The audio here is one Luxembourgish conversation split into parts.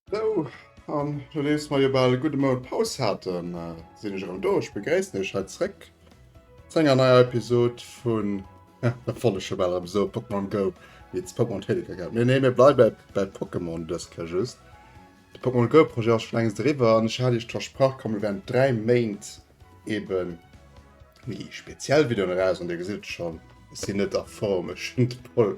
Sou, an nodeems mer jo bal e gudde Mount Paus haten, sinn ech erëm do. Ech begréissen iech hei zréck zu enger neier Episod vun. Ja, dat wollt ech jo bal erëm soen, Pokémon Go meets Pokémon Trading Card Game. Nee, nee, mir bleiwe bei Pokémon dës Kéier just. De Pokémon Go Projet ass scho längst eriwwer an ech hat iech versprach, komm mir wären 3 Méint eben méi speziell Videoen eraus an dir gesitt et schonn, ech sinn net a Form, ech hunn d'Pol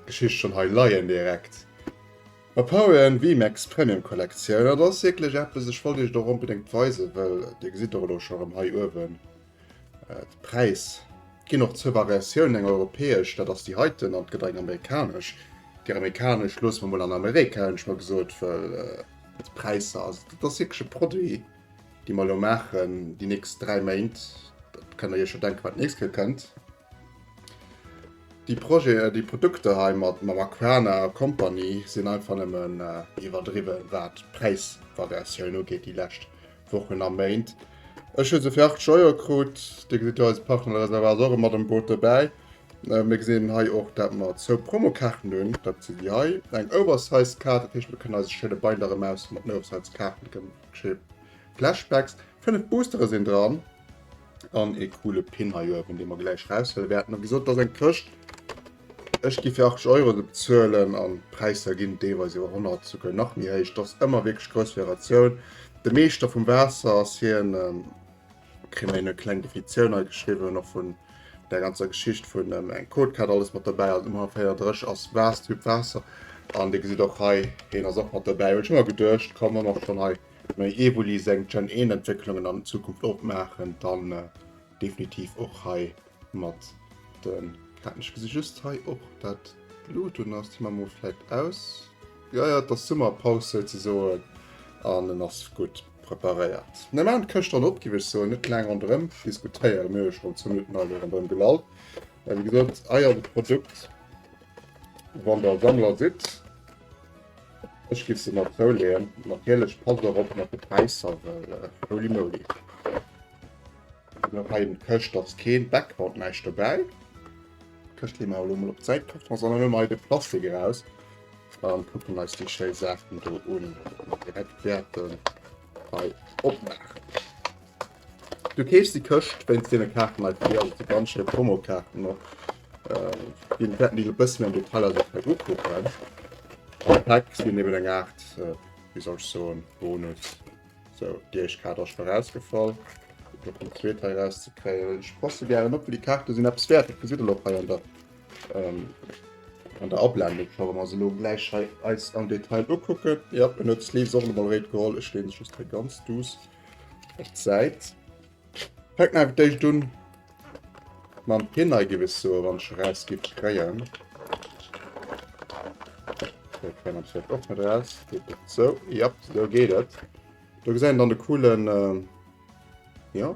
Geschicht schonn hei leien direkt. Op Pokémon VMAX Premium Collection, dat ass wierklech eppes, ech wollt iech et och onbedéngt weisen, well dir gesitt et och elo scho erëm hei uewen. D'Präis ginn och zur Variatioun, eng europäesch, dat ass déi heiten, an et gëtt eng amerikanesch. Déi amerikanesch loosse mer mol an Amerika, hunn ech mer gesot, well d'Präisser, also dat ass wierklech e Produit, dee mer elo maachen déi nächst dräi Méint, da kënnt der iech jo denken, wat d'nächst Kéier kënnt. Déi Projeten, déi Produkter hei mat Maracana a Company sinn einfach nëmmen iwwerdriwwen, wat d'Präisvariatioun ugeet déi lescht Wochen a Méint. Ech hu se fir 80 Euro krut. Dir gesitt hei, eise Partner de Réservoir ass och mat am Boot dobäi. Mir gesinn hei och, dat mer zwou Promokaarten hunn, dat si déi hei, eng oversized Kaart, dat heescht, mir kënnen eise schéine Binder erëm ausleeën mat den oversized Kaarten, déi kënne mat schéine Flashbacks. Fënnef Boostere sinn dran. Dann e coole Pin hei oben, den wir gleich rausholen werden. Wie gesagt, das ist eine Kiste. Ich gehe für 80 Euro bezahlen und die Preise gehen teilweise über 100, sogar noch mehr. hoch. Das ist immer wirklich große Variation. Der Meister vom Wasser ist hier ein, ähm, kriegen wir eine kleine Definition hei geschrieben, noch von der ganzen Geschichte von ähm, einem Codecard, alles mit dabei, also immer fair Dresch als Wassertyp Wasser. Und ihr seht auch hei, den ist auch mit dabei. Ich habe immer gedacht, kann man auch schon hei Mee Evoli seng Gen 1 Entwécklungen an Zukunft opmaachen, dann definitiv och hei mat den Katen. Ech gesi just hei och dat d'Blut un ass, déi man mol vläit aus. Jo jo, et ass Summerpaus souzesoen an en ass gutt preparéiert. Mir maachen d'Këscht dann op, giff ech soen, net laang ronderëm diskutéieren. Mir hu jo schonn 10 Minutten hei elo ronderëm gelall. Wéi gesot, Eier de Produkt, wann der Sammler sidd. Ech giff se mat zou leeën. Natierlech passt och op mat de Präisser well holy moly. Hei en d'Këscht ass keen Background näischt dobäi. Këscht leeë mer elo mol op d'Säit. Kaften ass an elo mei de Plastik eraus an kucken eis déi schéi Saachen do un. Direkt wäerten hei opmaachen. Du keefs déi Këscht wéinst deene Kaarten hei fir, also déi ganz schéi Promokaarten och. Déi wäerten déi e bëssen méi am Detail eis och hei ukucken. Am Pack sinn eben eng Aart, wéi soll ech soen, Bonus. Sou, déi éischt Kaart ass scho rausgefall. Fir och déi zweet hei rauszekréien. Ech passe gären op, well déi Kaarte sinn eppes wäert. Dat gesitt een och hei an der, an der Ablendung scho. Wa mer eis elo gläich hei eis am Detail ukucken, jo, en huet d'Sleeves och emol eréit geholl. Ech leen se just hei ganz duuss. Op d'Säit. Fänkt mir einfach d'éischt un mam Hineigewissure, wann ech rausgiff kréien. Okay, kréien ech dat och net raus. Geht dat so? Ja, so geht et. Da gesäit een dann de coolen, äh, ja,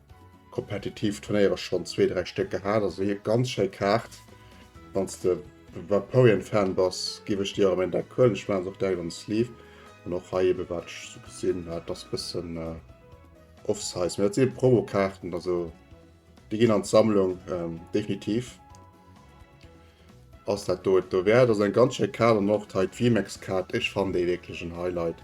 Kompetitiv Turnéiere schonn zwee, dräi Stéck gehat. Also hir ganz schéi Kaart. Wann s de Vaporeon-Fan bass, giff ech dir erëm een Deck huelen. Ech maachen se och direkt an de Sleeve. An och hei ebe wat ech esou gesinn hat, dat ass e bëssen off-size. Mee dat si Promo-Kaarten, also déi ginn an d'Sammlung, definitiv ass dat do et dowäert. Ass eng ganz schéi Kaart. An och hei d'V-Max-Kaart, ech fannen déi wierklech en Highlight.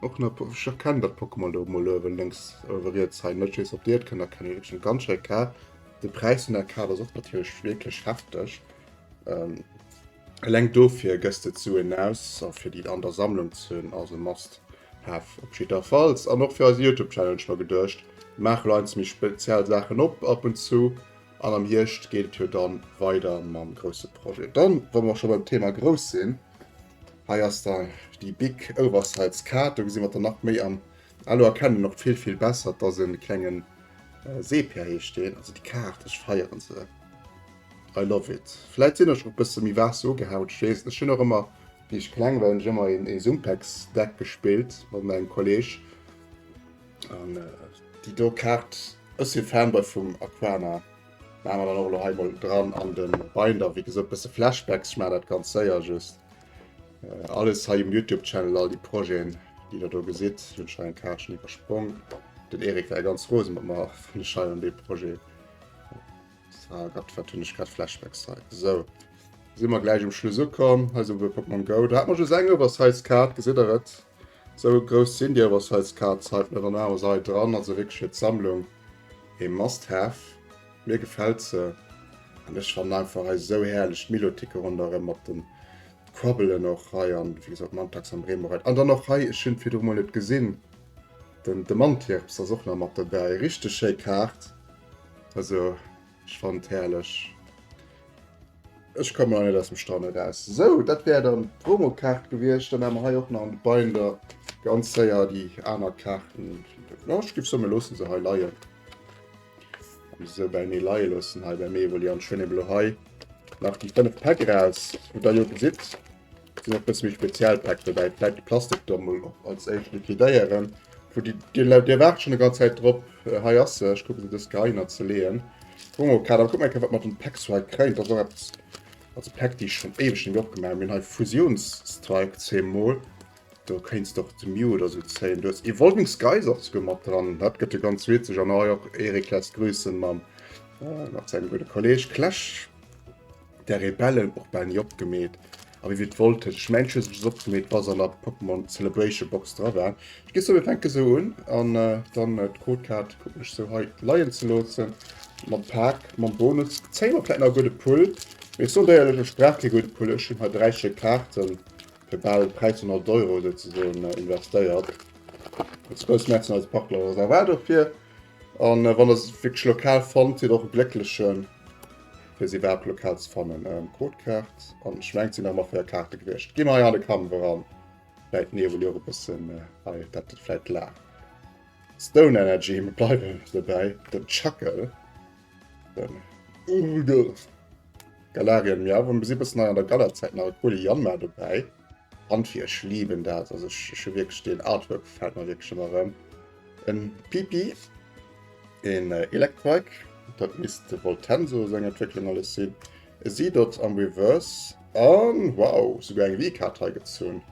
Och na ech erkennen dat Pokémon do mol oewen lenks oewe riets hei net wees op dir et kënnt erkennen wierklech eng ganz schéi Kaart de Präis vun der Kaart ass och natierlech wierklech hefteg ähm, eleng dofir gëss de d'Suen aus a fir déi an der Sammlung ze hunn ass e must have op jiddwerfalls an och fir eise Youtube Channel hunn ech mer geduecht maache lo eins méi speziell Saachen op ab und zu an am Hierscht geet et jo dann weider mam grousse Projet. Dann wa mer scho beim Thema grouss sinn, Hei ass da déi Big Oversize Kaart, do gesi mer der nach méi an Elo erkennen een och vill vill besser dass en klengen Sepia heescht deen. Also déi Kaart ech feieren se, I love it. Vläit sinn ech och bësse méi Waasser ugehaut, ech weess et net. Ech hunn och ëmmer, wéi ech kleng war hunn ech ëmmer ee Sumpex Deck gespillt mat mengem Kolleg an déi do Kaart, ech si Fanboy vum Aquana. Maan mer dann och elo hei mol dran an den Binder, wéi gesoot bësse Flashbacks, ech maan daat ganz séier just. Äh, alles hei um Youtube Channel, all déi Projeten déi der do gesitt, hunn ech hei eng Kaartchen iwwersprong. Den Erik war ganz rose mat mer wann ech hei an dee Projet Ah Gott, wat hunn ech grad Flashbacks hei. Sou, si mer gläich um Schluss ukomm, hei si e puer Pokémon Go. Do hat mer just eng Oversize Kaart, gesitt der et? Sou grouss sinn déi awer size Cards hei op menger naher Sait dran. Also wierklech fir d'Sammlung ee must have. Mir gefällt se an ech fannen einfach hei sou herrlech d'Milotiqe ronderem mat den d'Quabbelen och hei an wéi gesot Mantax an Bremorite an dann och hei, ech hunn virdru mol net gesinn, den de Mantirps ass och nach mat dobäi. Richteg schéi Kaart also. Ech fannen et herrlech. Ech kommen nach net aus dem Staunen eraus. Sou, dat wär dann d'Promokaart gewiescht. Dann haae mer hei och nach an de Binder ganz séier déi aner Kaarten. Jo, ech géif soen, mir loossen se hei leien. Déi sou beinee leie loossen hei bei mir. Evolliant, schwénn emol hei nach déi 5 Päck eraus, wou der jo gesitt, Sinn och bësse méi speziell Päck dobäi, vläit de Plastik do mol och als éischt liquidéieren. Wou déi, Dir lä-, Dir waart schonn e ganz Zäit drop. Hei ass se, ech kucken se dës Kéier heihinner ze leeën. Gucken mer mol, Kader, kuck mol eng Kéier, wat mer den Päck sou hei kréien. Dat ass och eppes, also Päck, déi ech schonn éiweg nemme opgemaach hunn. Mir hunn hei Fusionsstrike, zéi mol. Do kéints de och de Mew oder sou zéien. Du hues Evolving Skies och souguer mat dran, dat gëtt jo ganz witzeg. An hei och Eric lässt grüssen mam, mat sengem gudde Kolleeg Clash. der Rebellen och bal ni opgemeet, a wéi wir d'Woll tëscht, ech mengen ech hu se just opgemeet bass an der Pokémon Celebration Box dra war. Ech ginn zougi, fänke sou un an dann d'Codekaart kucken ech sou hei leien ze loossen mam Pak, mam Bonus zéie mer vläit nach e gudde Pull, mee ech soen der éierlech, ech brauch kee gudde Pull, ech hunn hei 3 Stéck Kaarten fir bal 1300 Euro souzesoen investéiert, Spëss, Merci an eise Partner Rosa War dofir. An wann der se wierklech lokal fannt, sidd och e Glécklechen, fir se iwwerhaapt lokal ze fannen. Ähm, Codekaart, an ech mengt, sinn nach mat feier Kaarte gewiescht. Gi mer hei an de Kampf eran. Läit mir ewell jo och e bëssen hei, dat gëtt vläit laang. Stone Energy, mir bleiwe dobäi. Den Chuckle, den Udo, Galarian Meow, a mir si bëssen hei an der Gala-Zäit, nach e coole Yanma dobäi. Handfir, ech liiben dat, also ech hu wierklech, deen Artwork gefält mer wierklech ëmmer erëm. En Pipi, en Electrike, dat misst de Voltenso seng Entwécklung alles sinn, e Seedot am Reverse an, wow, souguer eng Vkaart hei gezunn,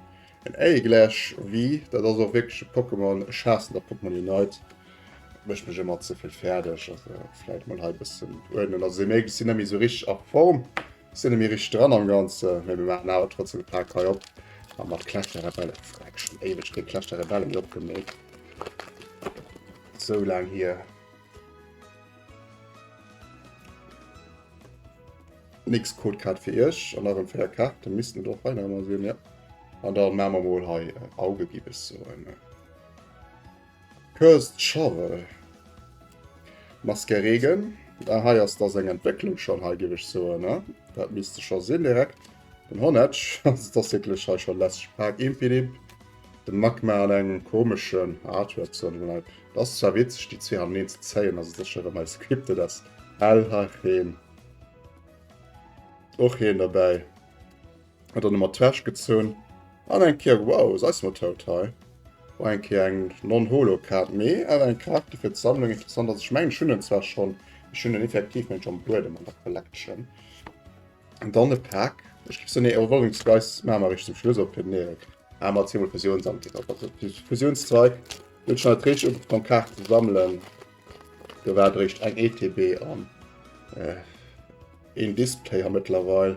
en Aegilash V. Dat ass och wierklech e Pokémon, ech haassen der Pokémon Unite, et mécht mech ëmmer ze vill fäerdeg. Also vläit mol hei e bëssen uerdnen, also si méi si net méi esou richteg a Form. Sin nemme richteg dran am ganze mee mir machen awer trotzdem e paar kei op an mat clash der rebelle freck schon eweg kee clash der rebelle mir opgemeet sou lang hier nix code grad fir iech an nach en feier karte missten doch hei nach mal sinn ja an da machen wir mol hei auge gi bis so en Cursed Shovel, Maske Regen, ah hei ass da seng Entwécklung schonn hei géif ech soen, ne dat misste scho sinn direkt. Den Honedge, also et ass wierklech hei scho lästeg Pak. Impidimp, de Magma an engem komeschen Artwork soen ech mol. Et ass zwar witzeg déi zwee haneneen ze zéien, also et ass scho rem hei scripted as hell, ha heen och heen dobäi. Huet dann emmer d'Wäsch gezunn an eng Kéier, wow, se eis mol tout hei. War eng Kéier eng Non-Holo-Kaart, mee awer eng Kaart, déi fir d'Sammlung interessant ass. Ech mengen, ech hunn en zwar schonn, ech hunn en effektiv, mengen ech, am Buedem an der Collection. An dann e Pack. Ech gi se, nee, oh, Rolling Spice maache mer eréischt zum Schluss op, fir den Erik. Aa, mer zimme Fusionsangriff op, also Fusionsstrike. Hunn ech haut eréischt ugefaang, Kaarten ze sammelen. Do war eréischt eng ETB an een Displayer mëttlerweil.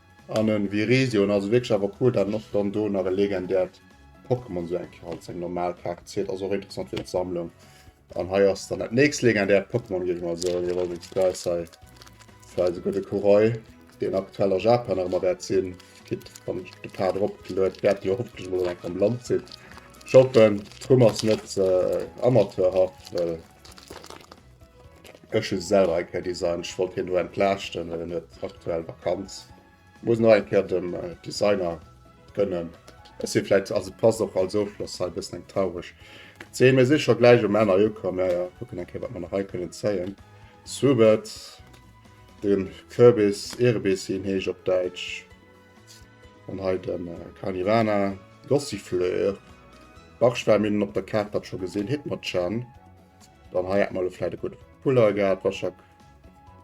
An en Virizion ass wierklech awer cool, dat en och dann do nach e legendäert Pokémon esou eng Kéier als eng normal Kaart zielt. Ass och interessant fir d'Sammlung. An hei ass dann dat nächst legendäert Pokémon, géif ech mal soen. Hei war wéinst Price hei fir eise gudde Kuroi, deen aktuell a Japan nach ëmmer wäert sinn. Kritt, wann ech de Pad eropgeluet, wäert jo hoffentlech emol eng am Land sinn. Ech hoffen d'Rumm ass net amateurhaft, well. Ech hu selwer eng Kéier designt, ech wollt hien elo entlaaschten, well en huet aktuell Vakanz. Muss nach eng Kéier dem äh, Designer gënnen. Ech si vläit, also passt och als Ofschloss hei bëssen eng traureg Zeen. Mir si scho gläich um Enn ukomm, ja ja, kucken eng Kéier wat mer nach hei kënnen zéien. Subert, den Kürbis, Erebis wéi en heescht op Däitsch. An hei den äh, Carnivana, Gossifleur, Barschwärminnen op der Kaart, dat scho gesinn, Hitmonchan. Dann hei hat mal vielleicht gute Puller gehabt, Waschak.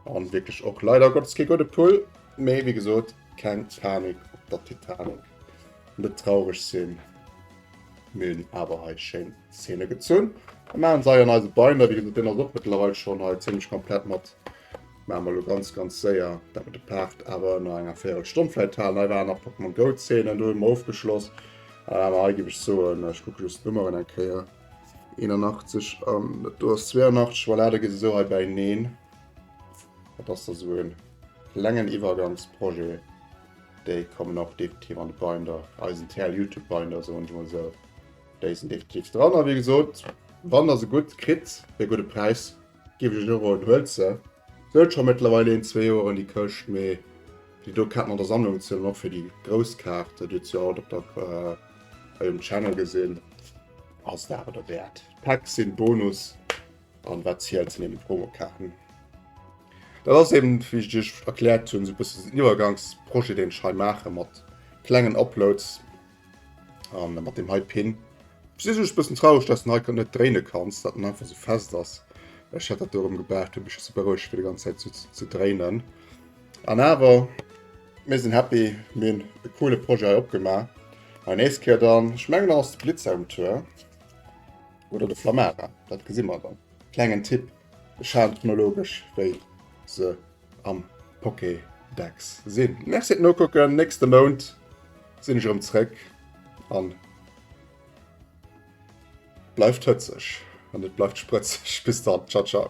Und wirklich auch leider Gottes kein gute Pull. Mehr wie gesagt, kein Titanic auf der Titanic. Nicht traurig sind. Wir haben aber halt schön Szene gezogen. Wir machen sie an unsere Beine, wie gesagt, den ist auch mittlerweile schon halt ziemlich komplett mit. Machen wir ganz, ganz sehr, dass wir den Part aber noch eine Viertelstunde vielleicht haben. Da waren noch Pokémon Go Szenen, da haben wir aufgeschlossen. Aber hier gebe ich so, ich gucke just die Nummern ein Kehr. 81 an dat do ass 82, voilà, da geet esou hei bäineen. Dat ass da sou en klengen Iwwergangsprojet. Déi kommen och definitiv an de Binder, eisen TL Youtube Binder, soen ech mol esou. Déi sinn definitiv dran a wéi gesot, wann der se gutt kritt, fir e gudde Präis, Giff ech elo en huel ze. Sou huet scho mettlerweil een zwee Joeren déi Këscht, mee déi do Kaart mat der Sammlung zielen och fir déi grouss Kaart. Dir hutt se jo alt op der bei dem Channel gesinn. Ass dawer der Wäert. D'Packs sinn Bonus an wat zielt sinn eben Promokaarten. Dat ass eben wéi ech Iech erkläert hunn sou bëssen den Iwwergangsprojet deen ech hei maachen mat klengen Uploads An mat dem hei Pin. Ech si just bëssen traureg, dass den hei net dréine kanns, dat en einfach sou fest ass. Ech hätt dat do erëm gebaart, huet mech just berouegt fir déi ganz Zäit sou ze dréinen. An awer, mir sinn happy, mir hunn e coole Projet hei opgemaach. An nächst Kéier dann, ech mengen dann ass de Blitzer um Tour. Oder de Flammara, dat gesi mer dann. Klengen Tipp, Schaden chronologesch wéi se. am Pokédex sinn. Merci et nokucken, nächste Mount sinn ech erëm zréck an bleift hëtzeg an et bleift sprëtzeg. Bis dann, ciao ciao.